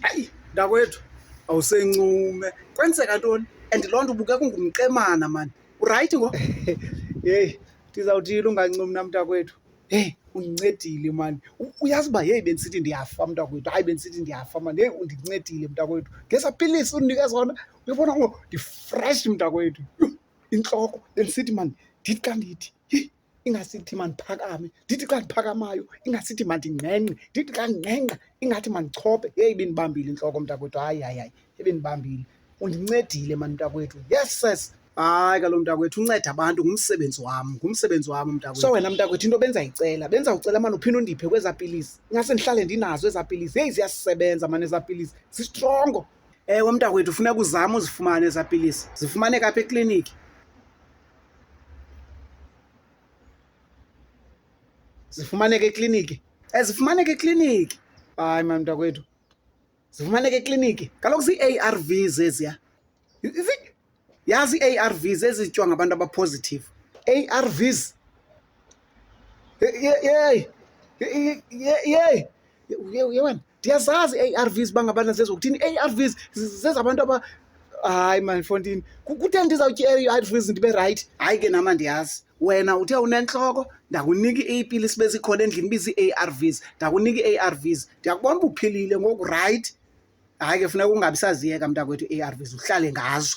Ayi, mntakwethu awusencume kwenzeka ntoni and loo nto ubuka kungumqemana mani urayithi ngo heyi ndizawuthini ungancumi na mntakwethu heyi undincedile mani U- uyazi uba heyi bendisithi ndiyafa mntakwethu hayi bendisithi ndiyafa mani heyi undincedile mntakwethu ngesa pilisi undinika zona uyabona ngo ndifresh mntakwethu Yho, intloko bendisithi mani ndithi xa ndithi yi ingasithi mandiphakame ndithi xa ndiphakamayo ingasithi mandingqengqe ndithi xa ndingqengqa ingathi mandichophe yeyi bendibambile intloko mntakwethu hayi hayi hayi ebendibambile undincedile mani mntakwethu yes ses hayi kalo mntakwethu unceda abantu ngumsebenzi wam ngumsebenzi wam mntakwethu so wena mntakwethu into benza yicela benza ucela mani uphinde undiphe kwezaa pilisi ingase ndihlale ndinazo ezaa pilisi heyi ziyasebenza mani ezaa pilisi zistrongo Ewe mntakwethu funeka uzame uzifumane eza pilisi. Zifumaneka apha ekliniki. Zifumaneka ekliniki. Ezifumaneka ekliniki. Hayi mani mntakwethu. Zifumaneka ekliniki. Kaloku zii-A_R_Vs eziya. yazi ii-ARVs ezityiwa ngabantu abaphozithivu ARVs yeyi yeyi uye wena ndiyazazi ii-ARVs uba ngabana zezokuthini ii-ARVs zezabantu aba hayi mandifontini kuthe ndizawutya ii-ARVs ndibe rayithi hayi ke nama ndiyazi wena uthe unentloko ndakunika iipilisi bezikhona endlini bizii-ARVs ndakunika ii-ARVs ndiyakubona uba uphilile ngoku rayithi hayi ke funeka ungabi saziyeka mntakwethu i-arvs uhlale ngazo